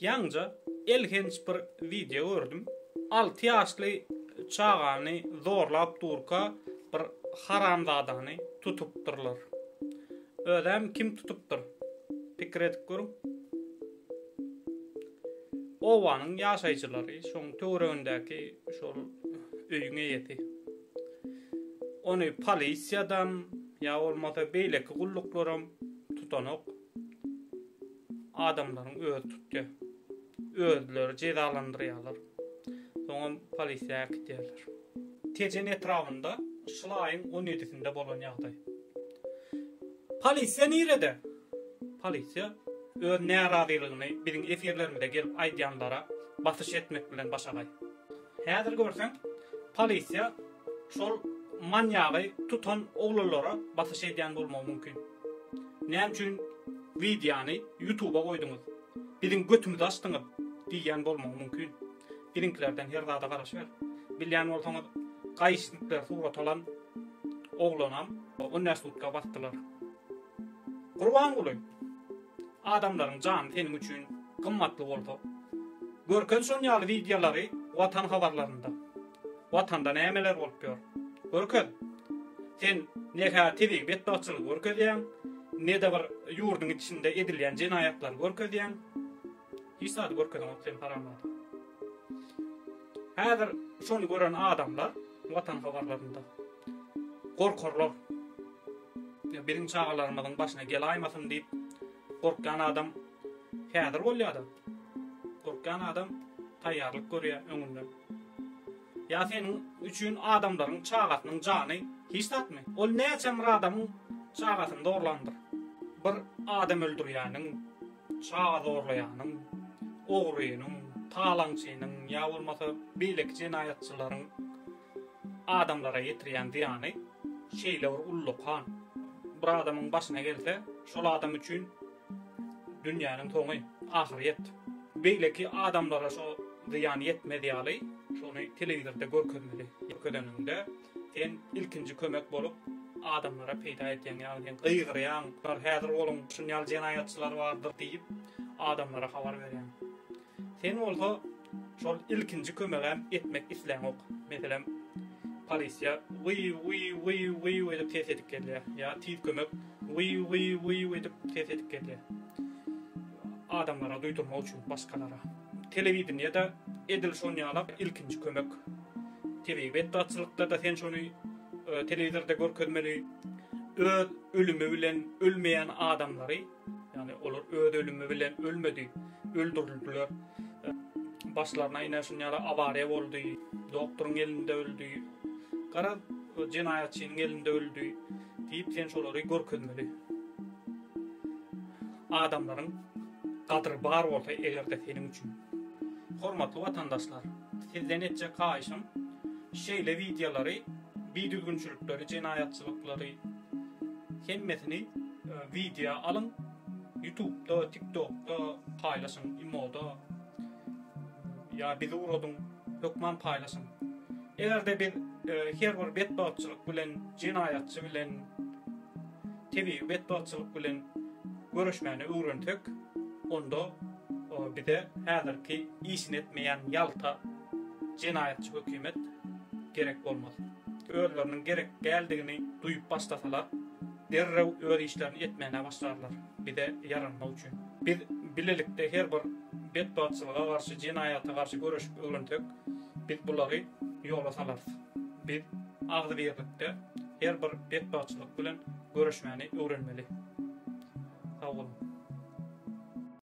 Ýaňja elhenç bir wideo gördüm. Alty ýaşly çagany zorlap durka bir haramzadany tutupdyrlar. Özem kim tutupdyr? Pikir edip görüň. Obanyň ýaşaýjylary, şoň töweregindäki şol öýüň eýesi. Ony polisiýadam ýa bolmasa beýleki gulluklaram tutanok. adamlaryň özi tutýar. Özleri jezalandyrýarlar. Soňam polisiýa äkidýärler. Tejen etrabynda şul aýyň on ýedisinde bolan ýagdaý. Polisiýa nirede? Polisiýa öz närazylygyny biziň efirlerimize gelip aýdýanlara basyş etmek bilen başagaý. Häzir görseň polisiýa şol manýagy tutan oglanlara basyş edýän bolmagy mümkin. Näme üçin wideony ýutuba goýduňyz? Biziň götümüzi açdyňyz diýýän bolmagy mümkin. Biziňkilerden her zada garaşyber. Bilýän bolsaňyz gaýyşnikler surat alan oglanam on bäş sutka basdylar. Gurbanguly, adamlaryň jany seniň üçin gymmatly bolsa, görken şon ýaly wideolary Watan habarlarynda. Watanda nämeler bolup ýör? Görkez. Sen ne-hä tebigy betbagtçylygy görkezýäň, ne-de bir ýurduň içinde edilýän jenaýatlary görkezýäň. Hiç zady görkezeňok sen haramzada. Häzir şony gören adamlar watan habarlarynda gorkarlar. Ýa biziň çagalarymyzyň başyna gelaýmasyn diýip gorkýan adam häzir bolýada. Gorkýan adam taýýarlyk görýär öňünden. Ýa seniň üçin adamlaryň çagasynyň jany hiç zatmy? Ol näçe bir adamyň çagasyny zorlandyr. Bir adam öldürýäniň Çaga zorlaýanyň, ogrynyň, talaňçynyň ýa bolmasa beýleki jenaýatçylaryň adamlara ýetirýän zyýany şeýle bir ullakan. Bir adamyň başyna gelse, şol adam üçin dünýäniň soňy, ahyrýet. Beýleki adamlara şo zyýan ýetmez ýaly, şony telewizorda görkezmeli. Görkezeniňde Sen ilkinji kömek bolup adamlara peýda edýäň ýagny gygyrýaň bular häzir olyň şun ýaly jenaýatçylar bardyr diýip adamlara habar berýäň. Sen bolsa şol ilkinji kömegäm etmek isläňok. Meselem polisiýa wyýw wyýw wyýw wyýw edip ses edip gelýär ýa tiz kömek wyýw wyýw wyýw edip ses edip gelýär adamlara duýdurmak üçin başgalara. Telewideniýede edil şon ýala ilkinji kömek. Tebigy betbagtçylykda-da sen şony telewizorda görkezmeli. Öz ölümi bilen ölmeýän adamlary, ýagny olar öz ölümi bilen ölmedi, öldürildiler. Başlaryna ine şuny ýaly awariýa boldy, doktoryň elinde öldi. Garaz, jenaýatçynyň elinde öldi diýip sen şolary görkezmeli. Adamlaryň gadyry bar bolsa eger-de seniň üçin. Hormatly watandaşlar! Sizden etjek haýyşym, şeýle wideolary, bidüzgünçilikleri, jenaýatçylyklary hemmesini wideo alyň, ýutubda, tiktokda paýlaşyň, imoda ýa bizi uradyň, hökman paýlaşyň. Eger-de biz her bir betbagtçylyk bilen, jenaýatçy bilen, tebigy betbagtçylyk bilen göreşmäni öwrensek, onda bize häzirki işini etmeýän ýalta jenaýatçy hökümet gerek bolmaz. Özleriniň gerek däldigini duýup başlasalar, derrew öz işlerini etmäne başlarlar, bize ýaranmak üçin. Biz bilelikde her bir betbagtçylyga garşy, jenaýata garşy göreşip öwrensek, biz bulary ýola salarys. Biz agzybirlikde her bir betbagtçylyk bilen göreşmäni öwrenmeli. Sag boluň!